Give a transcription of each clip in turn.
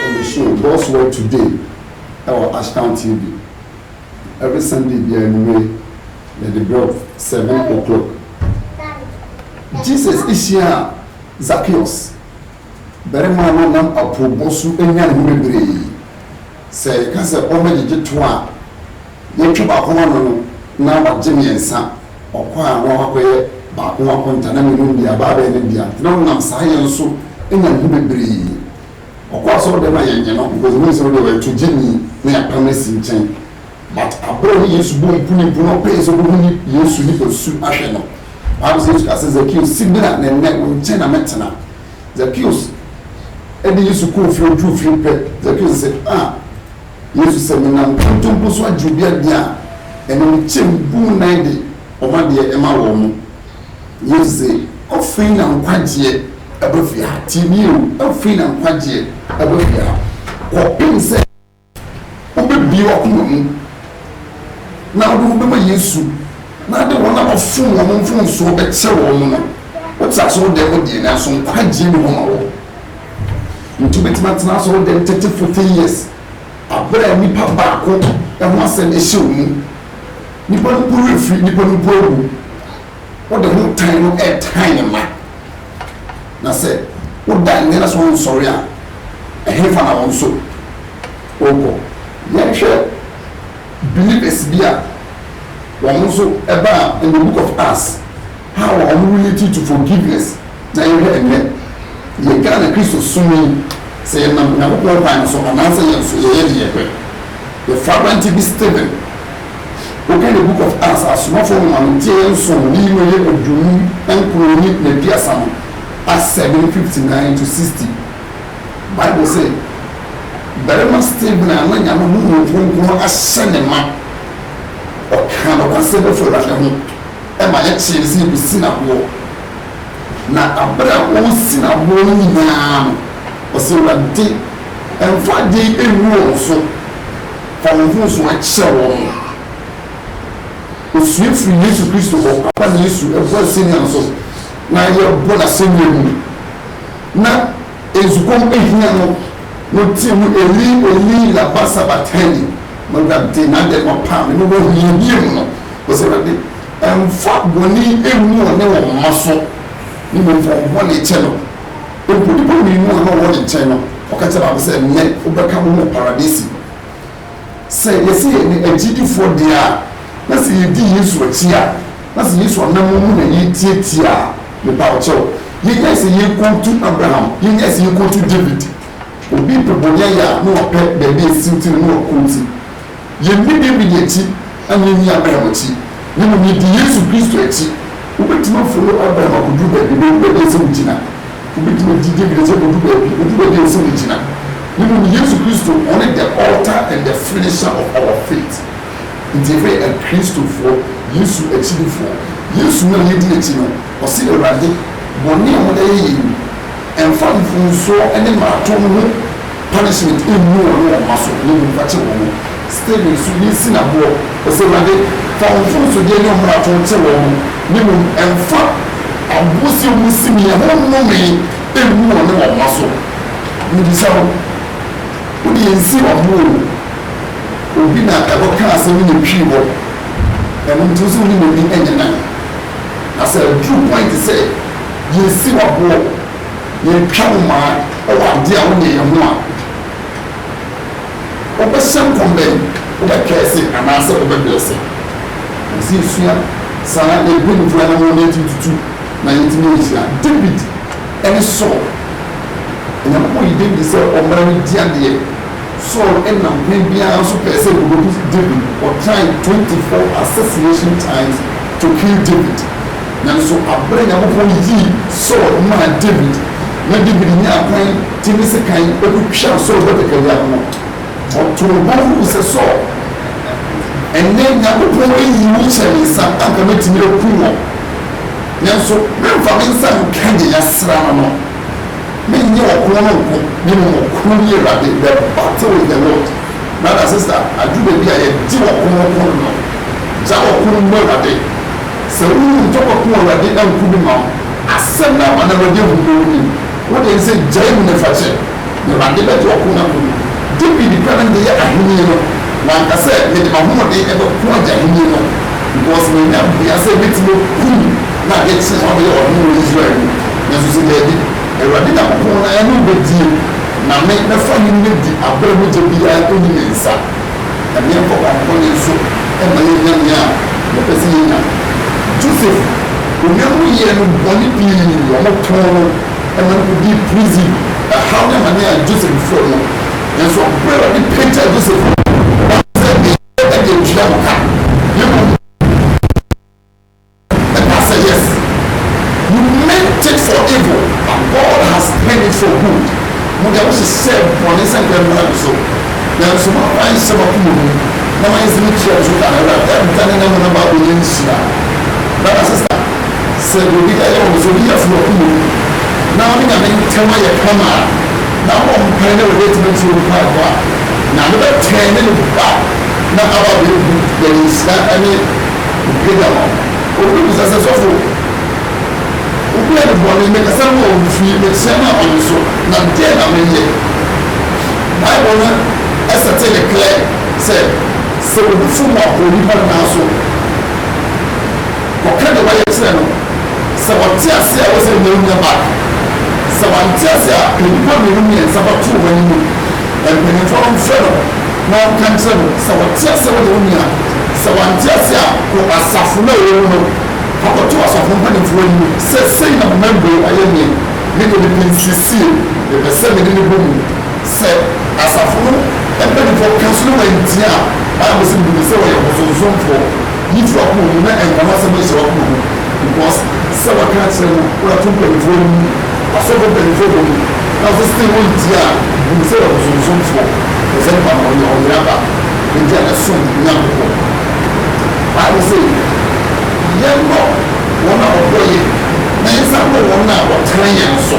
Wɔde show God's Word Today wɔ Ashtown TV every Sunday biara anwummere yɛde brɛ wo seven o'clock. Jesus hyiaa Zacchaeus, barima a na ɔnam apoobɔ so anya ne ho bebree. Sɛ yɛka sɛ ɔmmɛgyegye toa a, Yɛtwe baako ano no, na wɔagye mmiɛnsa, ɔkɔ a na wɔakɔyɛ baako akonta, na mmienu no deɛ, abaa abɛyɛ ne dea. Nti na ɔnam saa yɛ nso nya ne ho bebree. Ɔkɔ asɔrdan a, yɛnnye no, because yɛnim sɛ wo deɛ ɔyɛ togyeni, na yɛapam no asi nkyɛn. But berɛ a ɔne Yesu bɔɔ mpunimpu, na ɔpɛe sɛ ɔbɛhu ne Yesu nipasu ahwɛ no. Bible sɛ Yesu kaa sɛ, Zakeus, si bra na ɛnnɛ wo nkyɛn na mɛtena. Zakeus de Yesu kɔɔ fie, ɔduruu fie pɛ, Zakeus se, Ah! Yesu sɛ, Menam kanto mpo so agye obi adeɛ a, ɛno mekyɛ mu bu mu nan de wɔn adeɛ ma wɔn mo. Yesu se, Afei na nkwagyeɛ aba fie ha. Tie nie o, afei na nkwagyeɛ aba fie ha, kɔpem sɛ wobɛbie w'akoma mu na wode wo bɛma Yesu na ade wɔn a wɔfom wɔn mfomsoɔ bɛkyɛ wɔn no. Wote aseɛ? Wo deɛ wo deɛ, nanso nkwagyeɛ ni hɔ ma wo. Nti wobɛtumi atena asɔre dɛm thirty forty years aberɛ a nipa baako ho asɛm hyɛ wo mu. Nipa no mpo werɛ firi, nipa no mpo awu. Wode ho tan no ɛretan ne mma. Na sɛ woda nnɛ na sɛ wonsɔre a, ɛhefa na wo nso wokɔ? Yɛnhwɛ believers bi a wɔn nso ɛbaa in the book of Acts. How a wɔn relative to forgiveness na yɛhwɛ ɛnnɛ yɛ Ghana Kristo som yi sɛ yɛnam Onyankopɔn kwan no so anaasɛ yɛn nso yɛyɛ deɛ yɛpɛ yɛfa aberanteɛ bi Stephen woka the book of Acts asomafoɔ nwoma no nteɛeɛ nson ne yi mu ɛyɛ aduonum nkron ne naduasa no Acts seven fifty nine to sixty Bible sɛ barima Stephen a na Nyame Honhom Kronkron ahyɛ ne ma ɔkaa nokwasɛm bɛfo Awurade ho. ma yɛkyee no sɛ yɛbɛsi no aboɔ, na berɛ a wɔresi no aboɔ no nyina ara no, ɔsɛ Awurade mfa adeɛ ngu wɔn so, fa wɔn mfomsoɔ kyɛ wɔn. Ɔsua firii Yesu Kristo hɔ, ampa na Yesu bɔ asɛnnua no so, na yɛbɔ no asɛnnua mu, na. Nsukɔm hia no, no tee mu Eli, Eli, lama sabaktani? M'Awurade, na dɛn na ɔpaa me? Mewɔ hiahia mu no. Ose, Awurade, mfa bɔne mmu ɔne wɔn mma so, ne mmom fa wɔn bɔne kyɛ no. Mpo nnipa mmienu a na wɔwɔ ne nkyɛn no, ɔka kyerɛɛ baako sɛ, Nnɛ wobɛka wo ho wɔ Paradise mu. Sɛ yɛse yɛyɛ agyidifoɔ deɛ a, na sɛ yɛdi Yesu akyi a, na sɛ Yesu anammɔn mu na yɛretiatia a, mepawokyɛw, yɛnyae sɛ yɛrekɔtu Abraham, yɛnyae sɛ yɛrekɔtu David. Obi pɛ bɔne ayɛ a, na wapɛ baabi a asiw ti no na wakɔti. Yɛnni David akyi. Ɛnyɛ nyi Abraham akyi. Na mmom yedi Yesu Kristo akyi. Wobetumi afolo Abraham akodu baabi, bedu baabi a ɛsɛ wugyina. Wobetumi adi David akyi akodu baabi, bedu baabi a ɛsɛ wugyina. Na mmom Yesu Kristo, ɔne the author and the finisher of our faith. Nti yɛfrɛ yɛn Akristofoɔ, Yesu akyidifo. Yesu no a yedi n'akyi no, Ɔse Awurade, bɔne a moda yɛ yi no, mfa mfomsoɔ ne mmaratom ho punishment nnu wɔn ne wɔn mma so, na mmom fa kyɛ wɔn. Stephen nso, yei si no aboɔ, ɔse Awurade, fa wo mfomsodeɛ ne wo mmarato kyɛ wɔn, na mmom mfa aboɔsie a wɔsi me, ɛho nnome, nnu wɔn ne wɔn mma so. Mebisa wo, wo deɛ nsi w'aboɔ o, obi na ɛkɔkaa asɛm no na ɛtwii hɔ, ɛno nti wo sɛ wo ne n'ani nyɛ nan? Na sɛ aduru point sɛ yɛresi wo aboɔ, yɛretwa wo mmaa wɔ adeɛ a wonyɛeɛ ho a, wobɛhyɛ nkɔm bɛn? Wobɛ curse anaasɛ wobɛ blesse? Ɛwɔ sɛ yɛsua saa yɛn mpanyimfoɔ anammɔn na yɛtumi tutu na yɛtumi nhyira. David ne Saul, Onyankopɔn yii David sɛ ɔmmra ne di adeɛ. Saul na ɔhene biara nso pɛɛ sɛ wɔbɛku Dawid. Wɔtrae 24 assassination times to kill David. Nanso bere a Nyankopɔn yii Saul maa Dawid na Dawid nyaa kwan de ne sekan kotwaa Saul batakari ano no, ɔtoo ne bo huu sɛ, Saul, ɛnnɛ Nyankopɔn ayi wo ahyɛ me nsa, anka mɛtumi akum wo, nanso meremfa me nsa nka nea yɛasra no no. Mennyɛ ɔkron no nko, na mmom Ɔkronyi Awurade, the battle in the Lord. Brada, sista, adu baabi a yɛgye ɔko no ko no no. Gyae ɔko no mmɔ Awurade. Sɛ wohu ntɔkwa ko a Awurade anku bi ma wo, asɛm no ama no Awurade ahu bɔ w'anim. Wo deɛ ne sɛ gyae mu na fa kyɛ. Na Awurade bɛto ɔko no ako. Dawid pɛ ne de yɛ ahenni no, wanka sɛ, Mede m'ahoɔden bɛko agye ahenni no, because manya bea sɛ mɛtumi akum no adeɛ kye na wabɛyɛ ɔhene wɔ Israel mu. Nanso ɔse, Daabi, Awurade Nyankopɔn na yɛne wo bɛdie, na me, mɛfa ahenni no adi aberɛ a mogya biara nni me nsa, na meɛnkɔ kwampɔne nso mma yɛnnya nea yɛpɛ sɛ yɛnya. Joseph, onuanom yɛɛ no bɔne pii, wɔtɔn no. Ɛma no kodii prison ɛhaw ne amane a Joseph before no. Nanso bere a Awurade pagyaa Joseph no, wanhu sɛ ne yere de atua no ka, na mmom ɛkaa sɛ, Yes, you meant it for evil, but God has turned it for good. Mo deɛ, mohyehyɛɛ bɔne sɛ nka mmra me so, nanso moamfa anhyɛ m'akoma mu na moanyɛ sɛ metua mo so ka no. Awurade adane n'ano na aba abɛyɛ nhyira. Brada, sista. Sɛ obi yɛ ɔno, sɛ obi yɛ fo wɔ ɔko mu na ɔne Nyame ntam ayɛ kama a, na ɔbɔ mpae na Awurade atumi atie ne mpaebɔ a, Nyame bɛtwɛn ne ne ba na aba abɛbu n'ani nhyira ne mpagya ma no. Ɔbɛbisa sɛ, Sɔfo, obi ayɛ me bɔne, mekasa maa ɔmfii, meteɛ maa ɔnye so, na dɛn na menyɛ? Bible no sɛte no clear sɛ, sɛ obi fom a, onipa no nanso. Wɔka deɛ wɔayɛ kyerɛ no. Sɛ ɔte ase a, ɛwɔ sɛ ɔnya ɔnya back. Sɛ wante ase a, pɛ nnipa mmienu mmiɛnsa bɛto wɔn anim, mpanimfoɔ no mfrɛ no na wɔnka nkyerɛ no. Sɛ ɔte ase a, wo deɛ wo nua. Sɛ wante ase a, kɔ asafo no a ɔwɔ mu no, kɔkɔto asafo mpanimfoɔ anim sɛ, Sei na me mɛmbrɛ ayɛ nie. Me deɛ mepɛ nsiesie. Mepɛ sɛ me ne no bɔ mu. Sɛ asafo no mpanimfoɔ ka so na wɔantie a, Bible se, Menim sɛ wɔyɛ abosonsomfoɔ. Gye to wakoma mu na ɛnka n'asɛm nhyɛ wakoma mu because sɛ waka akyerɛ no na wato mpaninfoɔ no mu, asɔfo mpaninfoɔ bɔ mu na nso still wontie a, bu no sɛ ɔbosomsomfoɔ firi sɛ nipa no ɔnyɛ ɔyera ba nti a ɛsom Nyankopɔn. Bible se yɛnnɔ wɔn a wɔdɔ yɛn na yɛnsan dɔ wɔn a wɔtan yɛn nso.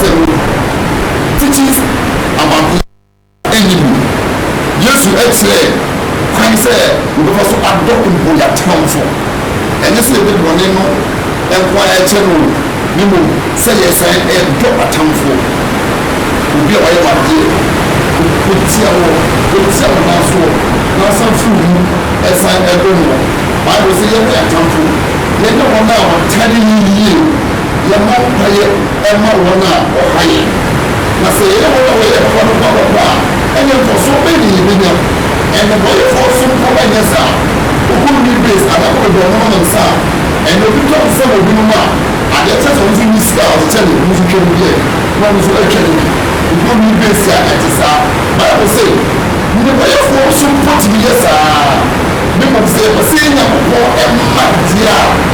Adansefo no tete abakɔsɛm a enye mu no, Yesu kyerɛɛ kwan sɛ wɔbɛfa so adɔ mpo yɛn atamfo. Ɛnyɛ sɛ yɛde bɔne no nko ara rekyɛ no o, na mmom sɛ yɛsan dɔ atamfo. Obi a wayɛ wo adeɛ, otia wo, otia wo nan so na wosan fi wo mu san dɔ no. Bible se, Yɛdɔ yɛn atamfo, yɛnyɛ wɔn a wɔtane yɛn yiye. Yɛma kwaeɛ ma wɔn a wɔha yɛn, na sɛ yɛne wɔn a wɔyɛ papa no bɔ kɔkɔ a, ɛnneɛ mfasoɔ bɛn na yɛbɛnya? Nnebɔneyɛfoɔ nso mpo nyɛ saa. Obi a ɔnni base anaa ɔpɛ baabi a ɔnom ne nsa a, ɛnneɛ obi tɔ nsa ma obi nom a, adeɛ kyerɛ sɛ ɔno nso nni sika a ɔde kyɛ ne ho so twa no bi ɛ, na ɔno nso atwa no bi. Obi a ɔnni base a, ɛte saa. Bible se, Nnebɔneyɛfoɔ nso mpo tumi yɛ saa ara. Mmom sɛ yɛpɛ sɛ yɛn Nyankopɔn mma deɛ a,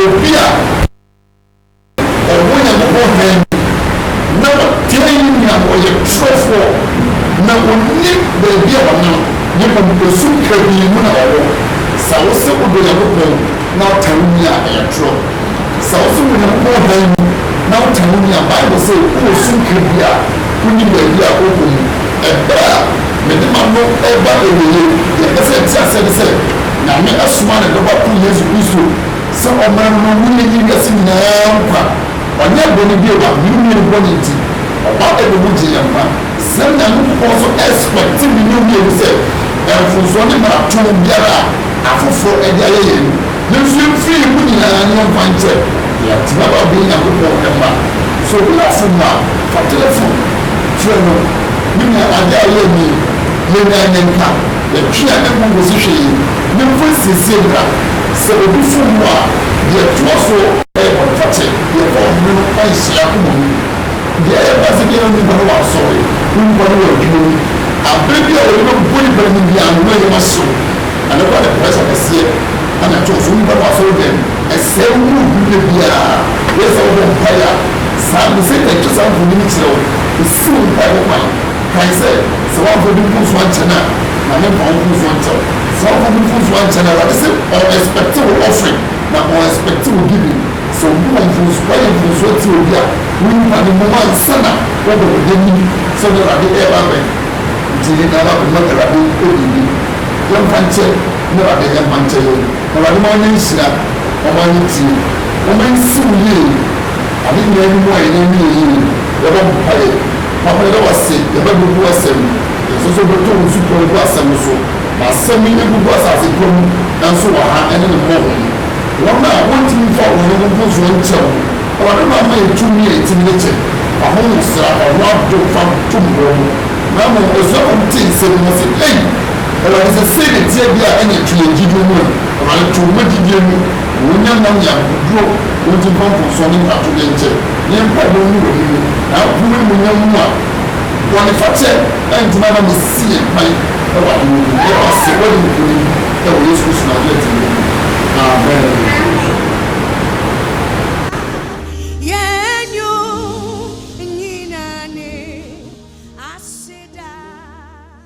Obi a ɔwɔ Nyankopɔn hann mu na ɔtaa yi nea ɔyɛ torofoɔ na ɔnim baabi a ɔnam ne mmom osu kabii mu na ɔwɔ. Sɛ wo se wodɔ Nyankopɔn na wotaa wo nua a, ɛyɛ toro. Sɛ wo se wowɔ Nyankopɔn hann mu na wotaa wo nua a, Bible se wowɔ sum kabii a wonnim baabi a ɔwɔ mu. Ɛberɛ a mede m'ano reba awieɛ, deɛ ɛsɛ sɛ yɛte aseɛ ne sɛ, Nyame asoma ne dɔba koro Yesu Kristo sɛ ɔmmra no ma mone nnye wiase nyinaa nkwa. Ɔnyɛɛ bɔne bio ma mene mmienu bɔne nti, ɔba bɛbɔ mu gye yɛn nkwa. Sɛ Nyankopɔn nso expect mene mmienu sɛ mfomsoɔ ne mmarato biara a afoforɔ de ayɛ yɛn no, ne nso mfiri yɛn mu nyinaa nyɛ nkwa nkyɛ na yɛatumi aba abɛyɛ Nyankopɔn mma. Sɛ obi wɔ fom a, fa telefon frɛ no, me nua adeɛ a ɔyɛɛ nie, yɛnyaa yɛn ka. Yɛtwe yɛn ani gu hosehwɛ yi ne mpo nsiesie mmra. Sɛ obi fom wo a, deɛ ɛtoa so yɛ bɔnefakyɛ. Deɛ ɛkɔ ɔhene no nhyɛ akoma mu. Deɛ ɛyɛ baasa biara nni hɔ na wansɔre, wo nkwa ne w'adwuma mu. Aberɛ bi a wɔde bɛbɔ nnipa no mu biara no, na nneɛma hye wo. Ɛno koraa de pressure kɛseɛ na ɛto wo so. Wo nkwa ne w'asɔredɛm mu. Ɛsɛe wo mu ɔduru da biara. Woyɛ sɛ wobɔ mpaeɛ a, saa aberɛ yi Satan twa saa mfonini no kyerɛ wo. Ɛsiw wo mpaebɔ kwan. Kae sɛ, Sɛ woamfa obi mfomso ankyɛ no a, na memfa wo mfomso nkyɛ wo. Sɛ woamfa obi mfomso ankyɛ no a, Awurade se, ɔn expect wo offering, na ɔn expect wo giving. Sɛ obi wɔ mfomso, woayɛ mfomso atia obi a, wo nipa no mmom ansa na wobɛbɔ n'anim sɛ ɔne Awurade ɛɛba abɛn. Nti yɛn nyinaa ma bɛmmɔ Awurade biribi. Yɛmfa nkyɛ na Awurade ɛmfa nkyɛ yɛn. Na Awurade ma yɛnyɛ nhyira, ɔma yɛ tie. Momma yɛnsi wo yie. Ade nyinaa anim a yɛn ani yɛ yie no, yɛbɔ mpaeɛ. Papa yɛda wo ase yɛbɛ bubu asɛm yi yɛsɛ sɛ wobɛtɔ wo supɔn gu asɛm no so ma asɛm yi ɛgugu asase pa mu ɛnso wɔ ha ɛne ne mmɔho yi wɔn a wɔntumi mfa wɔn ho mponsoɔ nkyɛ wo awurade ma ma yɛ tumi a ɛtumi de kyɛ w'ahoho sra ɔho adom fa tom wɔ mu na mmom asuafo no tee nsɛm yi na ɔse ei awurade sɛ sei na ɛteɛ deɛ a ɛneɛ twe yɛn gyidie mu ɛ awurade to ma gyidie mu na wɔnya nam yɛ akokoduro wɔnti mfa mponsoɔ ne mfatodeɛ nkyɛ. Yɛn mpaebɔ ne w'anim na aboro animuonyam mu a bɔnefakyɛ ntumi ama no si yɛn kwan wɔ ahemman no mu. Yɛda wo ase sɛ woadi nkonim wɔ Yesu Kristo Nasaretni din mu, amen.